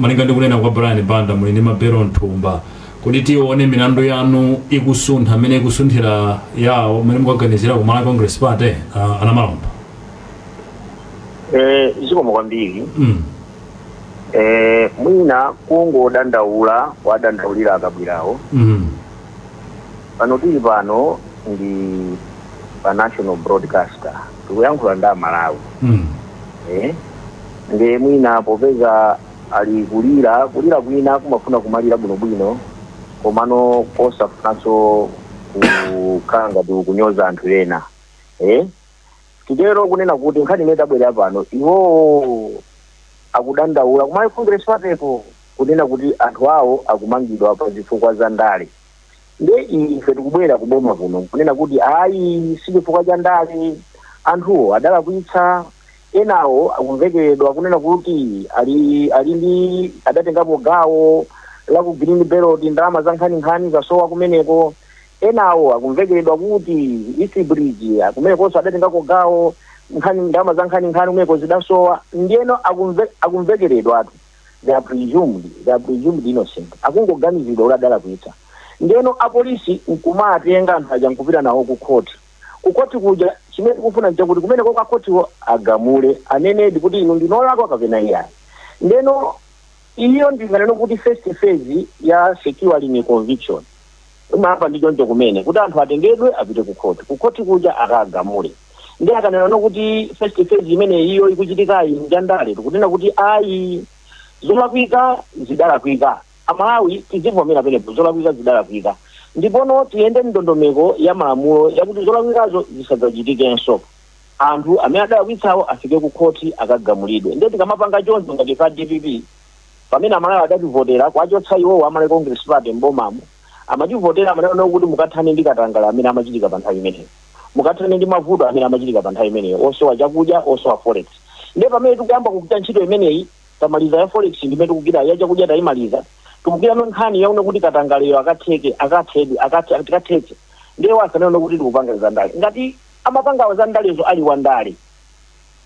Malinga ndi kunena kwa Brian Banda muli ndi mabelo mthumba kuti tione milandu yanu ikusuntha mmene ikusunthira yawo mmene mukaganizira ku Malawi Congress Party uh, a Namalomba Eh, zikomo kwambiri mm. eh, mwina kungodandaula adandaulira a Kabwirawo mm. pano tili pano ndi pa national broadcaster tikuyankhula ndi amalawi mm. eh? nde mwina popeza ali kulira kulira kwina kumafuna kumalira bwinobwino komano kosafunanso kukhala ngati ukunyoza anthu ena eh? titero kunena kuti nkhani imene tabwerera pano iwowo akudandaula ku Malawi Congress Party-ko kunena kuti anthu awo akumangidwa pa zifukwa za ndale nde ife tikubwera kuboma kuno kunena kuti ayi si chifukwa cha ndale anthuwo adalakwitsa enawo akumvekeredwa kunena kuti ali ali ndi adatengapo gawo la ku green belt ndalama za nkhaninkhani zasowa kumeneko enawo akumvekeredwa kuti east bridge kumenekonso adatengako gawo nkhani ndalama za nkhaninkhani kumeneko zidasowa ndiyeno akumve- akumvekeredwatu they are presumed they are presumed innocent akungoganiziridwa kuti adalakwitsa ndeno apolisi nkumawatenga anthu aja nkupita nawo ku khoti ku khoti kuja chimene tikufuna nchakuti kumeneko kwa khotiwo agamule anenedi kuti inu ndinu olakwa kapena iyayi ndeno iyo ndinganene kuti first phase ya securing a conviction Koma apa ndi choncho kumene kuti anthu atengedwe apite ku khoti. Ku khoti kuja akagamule. Ndiye akanenano kuti first phase imene iyo ikuchitikayi nja ndale, tikunena kuti ayi. Zolakwika zidalakwika. Amalawi tizivomera penepo, zolakwika zidalakwika. Ndipono tiyende m'ndondomeko ya malamulo yakuti zolakwikazo zisadzachitikenso. Anthu amene adalakwitsawo afike ku khoti akagamulidwe. Ndiye tikamapanga choncho ngati ife a dpp. pamene amalawi adativotera kuwachotsa iwowo a Malawi Congress Party m'bomamo amativotera amanena nawo kuti mukathane ndi katangale amene amachitika pa nthawi imeneyo mukathane ndi mavuto amene amachitika pa nthawi imeneyo osowa chakudya osowa forex ndiye pamene tikuyamba kugwira ntchito imeneyi tamaliza ya forex ndimene tikugwira ya chakudya tayimaliza tikugwirano nkhani yakuti kuti katangaleyo akatheke akathedwe akathe- tikathetse ndiye asanene kuti tikupanga za ndale ngati amapanga za ndalezo ali wandale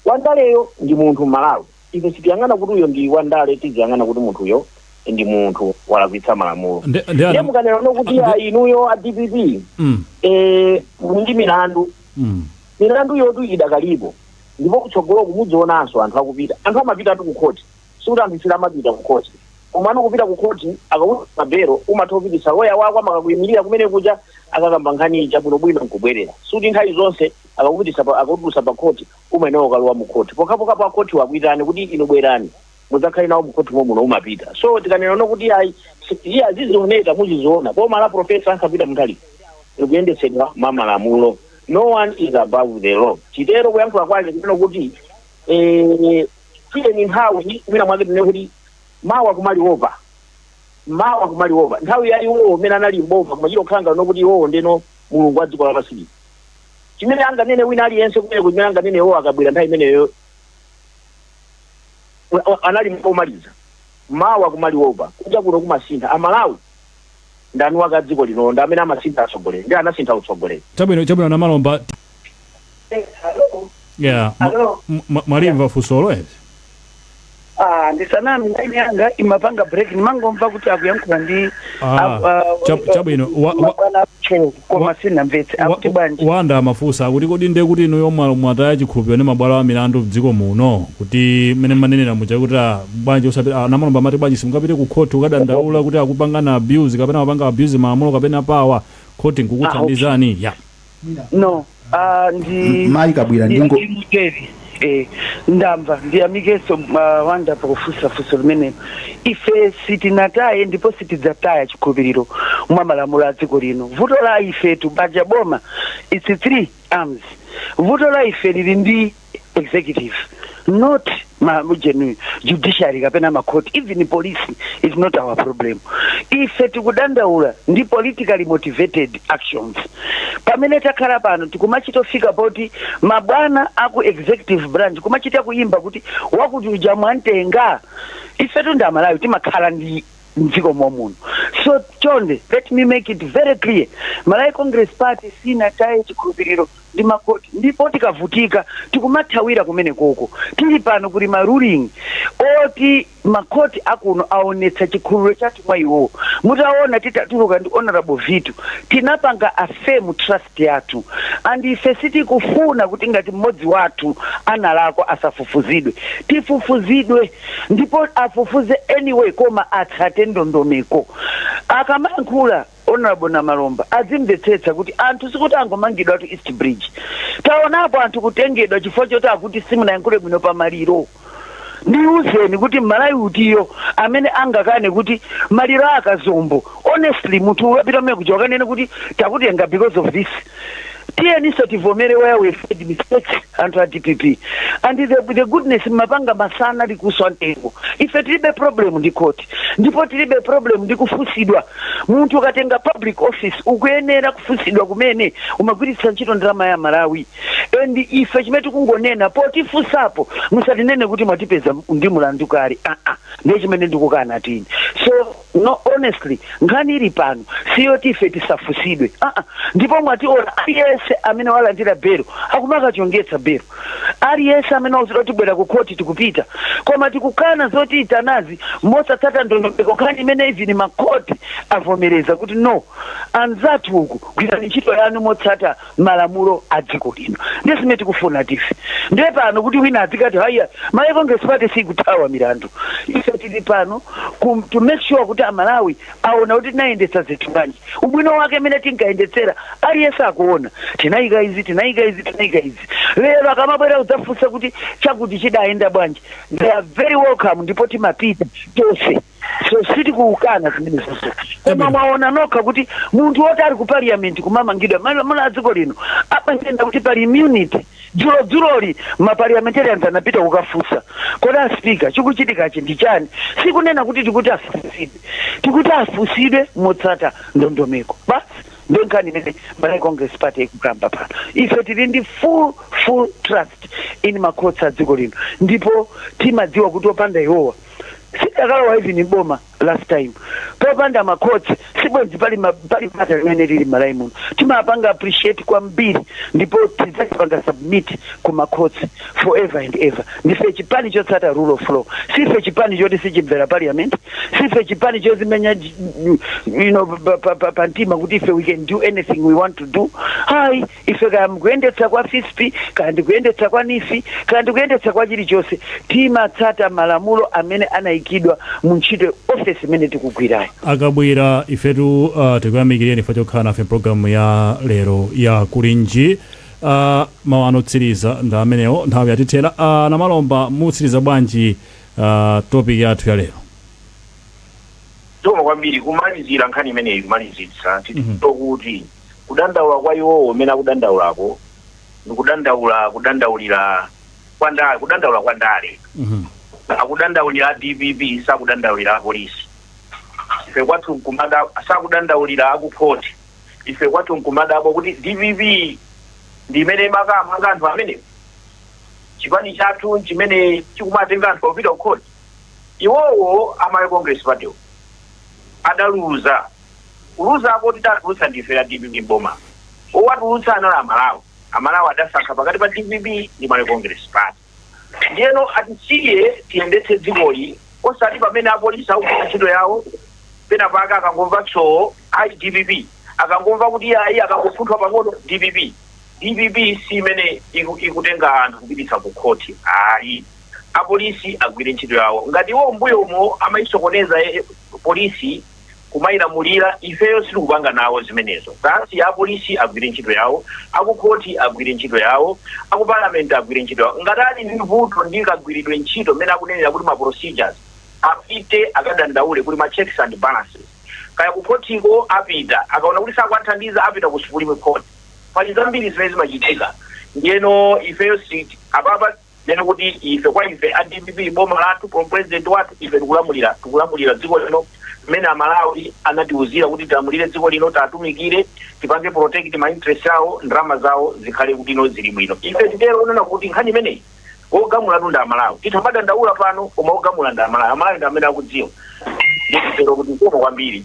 wandaleyo ndi munthu m'malawi Ife sitiyang'ana kuti uyo ndi wandale tiziyang'ana kuti munthuyo ndi munthu walakwitsa malamulo Nde- nde ana- ndiye mukanena no kuti nde- a inuyo a dpp Mm, eh, muli ndi milandu mm. milanduyotu idakalipo ndipo kutsogoloku mudzionanso anthu akupita anthu amapitatu kukhoti sikuti anthu samapita kukhoti komano kupita kukhoti ukakhala pa belo umatha kupitisa loya wako amakakuyimirira kumene kuja akakamba nkhani ija bwinobwino nkubwerera sikuti nthawi zonse akakupitisa pa- akakutulutsa pa khoti Umayenera kukalowa mu court pokhapokhapo a court wo akuitane kuti inu bwerani mudzakhale nawo mu court momuno umapita. So tikanena no kuti ayi iye azizioneka muziziona. Boma la Prof. Arthur Peter Mutharika likuyendetsedwa mwa malamulo. No one is above the law. Titero kuyankhula kwake kunena kuti eh, tiyeni nthawi mwina mwake tinene kuti mawa kumaliopa mawa kumaliopa nthawi ya iwowo amene anali mboma kumachita kukhala ngati no kuti iwowo ndeno mulungu wa dziko lapansi lino. chimene anganene wina aliyense kumeneko, chimene anganene iwo a Kabwila nthawi imeneyo, wa- wa- anali mawu omaliza. Mawa kumaliwopa, kunja kuno kumasintha. Amalawi ndi eni ake a dziko lino ndi amene amasintha atsogoleri, ndiye anasintha utsogoleri. chabwino chabwino Namalomba t- yeah, ma- Hello. m- ma- mwalimva funsolo eti Ah, ndisaname line yanga imapanga break ndimangomva kuti akuyankhula ndi Ah, aku- ah, chab- eh, chabwino. Wa- wa- mabwana akucheu koma wa- sinamvetse akuti Wa- bwanji Wonder amafunsa akuti kodi ndiye kuti inuyo mwa- mwataya chikhulupiriro ndi mabwalo a milandu mdziko muno kuti mmene manenera muja kuti ah, bwanji osati a Namalomba amati bwanji simungapite ku khoti kukadandaula kuti akupangani abuse kapena amapanga abuse malamulo kapena power khoti nkukuthandizani ya no ah, ndi M- Mayi Kabwila, ndi- ndingo- ndi muteri eh, ndamva ndiyamikenso uh, Wonder pakufunsa funso limenelo ife sitinataye ndipo sitidzataya chikhulupiriro mwa malamulo a dziko lino vuto la ifetu paja boma it's three arms vuto la ife lili ndi executive not ma genu- judiciary kapena makhoti even police is not our problem ife tikudandaula ndi politically motivated actions pamene takhala pano tikumachita kufika poti mabwana aku executive branch kumachita kuyimba kuti wakuti uja mwamtenga ifetu ndi amalawi timakhala ndi mdziko momuno so chonde let me make it very clear malawi congress party sinataye chikhulupiriro ndi makoti ndipo tikavutika tikumathawira kumenekoko tili pano kuti ma ruling oti makoti akuno aonetsa chikhulupiriro chathu mwa iwo mutaona titatuluka ndi honorable Vitu tinapanga affirm trust yathu and ife sitikufuna kuti ngati mmodzi wathu analakwa asafufuzidwe tifufuzidwe ndipo afufuze anyway koma atsate ndondomeko. Akamayankhula honorable Namalomba adzimvetsetsa kuti anthu sikuti angomangidwatu East Bridge. Taonapo anthu kutengedwa chifukwa choti akuti simunayankhule bwino pa maliro. Ndiuzeni kuti m'Malawi utiyo amene angakane kuti maliro a Kazombo honestly munthu upita kumene kuja ukanene kuti takutenga because of this? tiyeninso tivomere where we made mistakes anthu a dpp and the, the goodness mmapanga masana likuswa mtengo ife tilibe problem ndi court ndipo tilibe problem ndi kufunsidwa munthu ukatenga public office ukuyenera kufunsidwa mmene umagwiritsa ntchito ndalama ya amalawi and ife chimene tikungonena potifunsapo musatinene kuti mwatipeza ndi mulandu kale aa ndiye chimene ndikukana tini so No, honestly nkhani ili pano siyoti ife tisafunsidwe uh -uh. ndipo mwationa aliyense amene walandira belo akumakachongetsa belo aliyense amene wauzidwa tibwera ku khoti tikupita koma tikukana zotiyitanazi mosatsata ndondomeko nkhani imene even makhoti avomereza kuti no anzathu uku gwirani ntchito yanu motsata malamulo a dziko lino ndiye zimene tikufuna ife ndiye pano kuti wina adzikati haya malawi congress party sikuthawa milandu ife tili pano to make sure kuti amalawi aona kuti tinayendetsa zinthu bwanji ubwino wake mmene tinkayendetsera aliyense akuona tinayika izi tinayika izi tinayika izi lero akamabwera kudzafunsa kuti chakuti chidayenda bwanji they are very welcome ndipo timapita tonse so sitikukana zimenezozo koma mwaona nokha kuti munthu woti ali ku parliament kumamangidwa malamulo a dziko lino amanena kuti pali immunity dzulodzuloli maparliamentarians anapita kukafunsa kodi aspika chikuchitikachi ndi chani sikunena kuti tikuti afunsidwe tikuti afunsidwe motsata ndondomeko basi ndiyo nkhani imene malawi congress party ikukamba pano ife tili ndi full full trust in ma courts a dziko lino ndipo timadziwa kuti opanda iwowa sidakalowa even mboma last time popanda ma courts sibwenzi pali ma- pali bata limene lili Malawi muno timapanga appreciate kwambiri ndipo tidzapanga submit ku ma courts forever and ever ndife chipani chotsata rule of law sife chipani choti sichimvera parliament sife chipani chozimenya j- you know, pa- pa- pa- pa mtima kuti ife we can do anything we want to do hayi Ife kaya mukuyendetsa kwa Fisp, kaya ndi kuyendetsa kwa NEEF, kaya ndi kuyendetsa kwa chilichonse, timatsata malamulo amene anaikidwa mu ntchito, ofesi imene tikugwirayo. A Kabwira, ifetu tikuyamikireni ife chokhala nafe m'programu ya lero ya Kuli Nji. a Mawu anu otsiriza ndi amenewo, nthawi yatithera. A Namalomba, mutsiriza bwanji topic yathu ya lero? Zikomo kwambiri. Kumalizira nkhani imeneyi, kumalizitsa, titero kuti. kudandaula kwa iwowo mmene akudandaulako ndi kudandaula kudandaulira kwa ndale kudandaula kwa ndale Mhm. akudandaulira a dpp sakudandaulira apolisi ife kwathu nkumada- sakudandaulira akukhoti ife kwathu nkumadabwa kuti dpp ndi imene imakamanga anthu amene chipani chathu chimene chikumatenga anthu opita kukhoti iwowo a malawi congress party adaluza kuluza apo sitidawatulutse ndife a dpp m'boma owatulutsa anali amalawi amalawi adasankha pakati pa dpp ndi malawi congress party ndiyeno atisiye tiyendetse dzikoli osati pamene apolisi akugwira ntchito yawo pena pake akangomva tsowo ayi dpp akangomva kuti ayi akangopunthwa pang'ono dpp dpp si imene iku- ikutenga anthu kupititsa ku khoti ayi apolisi agwire ntchito yawo ngati iwo mbuyomo amayisokoneza eh, polisi kumailamulira ifeyo sitikupanga nawo zimenezo basi apolisi agwire ntchito yawo akukhoti agwire ntchito yawo akupalamenti agwire ntchito yawo ngati ali ndi vuto ndi kagwiridwe ntchito mmene akunenera kuti ma procedures apite akadandaule kuti ma checks and balances kaya kukhotiko apita akaona kuti sakuwathandiza apita ku supreme court pali zambiri zimene zimachitika ndiyeno ifeyo siti- apapa ndinene kuti ife kwa ife a dpp boma lathu president wathu ife tikulamulira tikulamulira dziko lino mmene amalawi anatiuzira kuti tilamulire dziko lino tatumikire tipange protect ma interest awo ndalama zawo zikhale kuti zili bwino ife nditero kunena kuti nkhani imeneyi wogamulatu ndi amalawi titha kumadandaula pano koma wogamula ndi amalawi amalawi ndi amene akudziwa nditero kuti zikomo kwambiri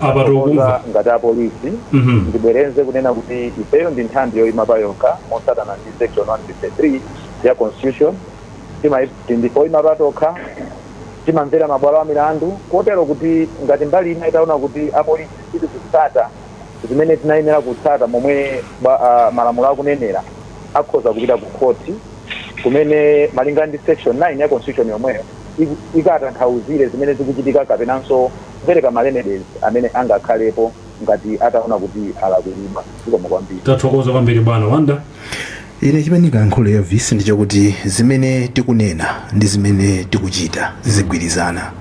apa Koza tikukumva ngati apolisi Mhm. ndibwerenze kunena kuti ifeyo ndi nthambi yoyima pa yokha motsatana ndi section 153 ya constitution Timayi- tindi oyima pa tokha timamvera mabwalo a milandu kotero kuti ngati mbali ina itaona kuti apolisi sitikutsata zimene tinayenera kutsata momwe ba- ah, malamulo akunenera akhoza kupita ku khoti kumene malinga ndi section 9 ya constitution yomweyo ik- ikatanthauzire zimene zikuchitika kapenanso kupereka ma remedies amene angakhalepo ngati ataona kuti alakwiridwa. Zikomo kwambiri. Tathokoza kwambiri bwana Wanda. Ine chimene ndingayankhule Elvis ndi chakuti zimene tikunena ndi zimene tikuchita zizigwirizana.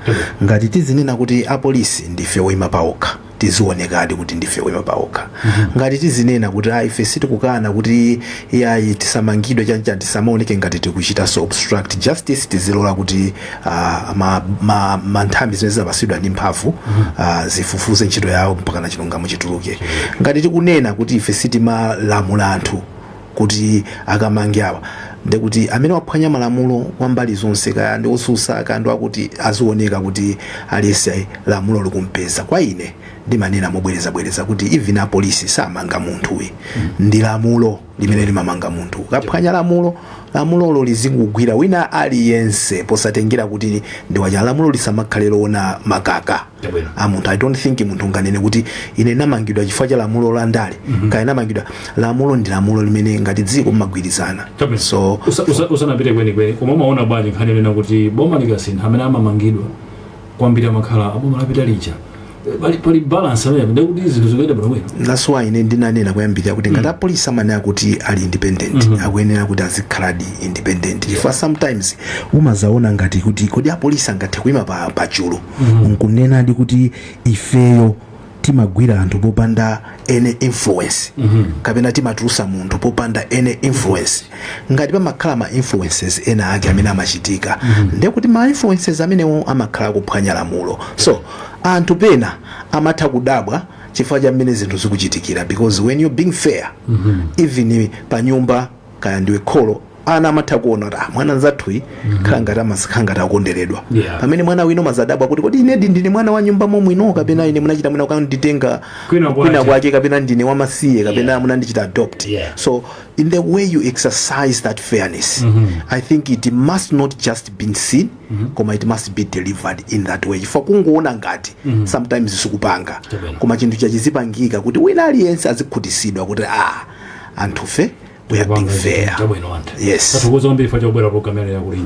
Ngati tizinena kuti apolisi ndife oima paokha tizionekadi kuti ndife oima paokha. Ngati tizinena kuti ayi ife sitikukana kuti iyayi tisamangidwe chani chani tisamaoneke ngati tikuchitanso obstruct justice tizilola kuti ah, ma, ma, ma nthambi zimene zinapasidwa ndi mphamvu ah, zifufuze ntchito yawo mpaka na chilungamo chituluke ngati tikunena kuti ife sitimalamula anthu kuti akamange awa ndekuti amene waphwanya malamulo kwa mbali zonse kaya ndi osusa kaya ndi akuti azioneka kuti aliyese lamulo likumpeza kwa ine ndimanena mobwerezabwereza kuti even apolisi samanga munthu ayi ndi lamulo limene limamanga munthu ukaphwanya lamulo lamulolo lizingugwira wina aliyense posatengera kuti ndi wachani lamulo lisamakhale loona makaka Yabwino. a munthu i don't think munthu unganene kuti ine ndamangidwa chifukwa cha lamulo la ndale kaya ndamangidwa lamulo ndi lamulo limene ngati dziko mmagwirizana Chabwino. so Usa- usa- usanapite kwenikweni koma umaona bwanji nkhani yonena kuti boma likasintha amene amamangidwa kwambiri amakhala aboma lapita lija Eh, pali, pali balance amene ndiye kuti zinthu zikuyenda bwino bwino that's why ine ndinanena kuyambirira kuti ngati apolisi amanena kuti ali independent akuyenera kuti azikhaladi independent chifukwa sometimes umazaona ngati kuti kodi apolisi angathe kuima pa, pa chulu nkunenadi kuti ifeyo timagwira anthu popanda any influence kapena timatulusa munthu popanda any influence ngati pamakhala ma influences ena ake amene amachitika ndiye kuti ma influences amenewo amakhala akuphwanya lamulo so anthu pena amatha kudabwa chifukwa cha mmene zinthu zikuchitikira because when you are being fair even pa nyumba kaya ndiwe kholo ana amatha kuona kuti ah, mwana nzathuyi khala ngati amasikhala ngati akukonderedwa Yeah. pamene mwana wina umazadabwa kuti kodi inedi ndine mwana wa nyumba momwino kapena ine munachita mwina kunditenga Kwina kwache. kwina kwake kapena ndine wamasiye kapena Yeah. munandichita adopt Yeah. so in the way you exercise that fairness i think it must not just be seen koma it must be delivered in that way chifukwa kungoona ngati sometimes sikupanga Chabwino. koma chinthu chake chizipangika kuti wina aliyense azikhutisidwa kuti ah anthufe we are being fair chabwino anthu yes tathokoza kwambiri chifukwa chakubwera programu yanu ya Kulinji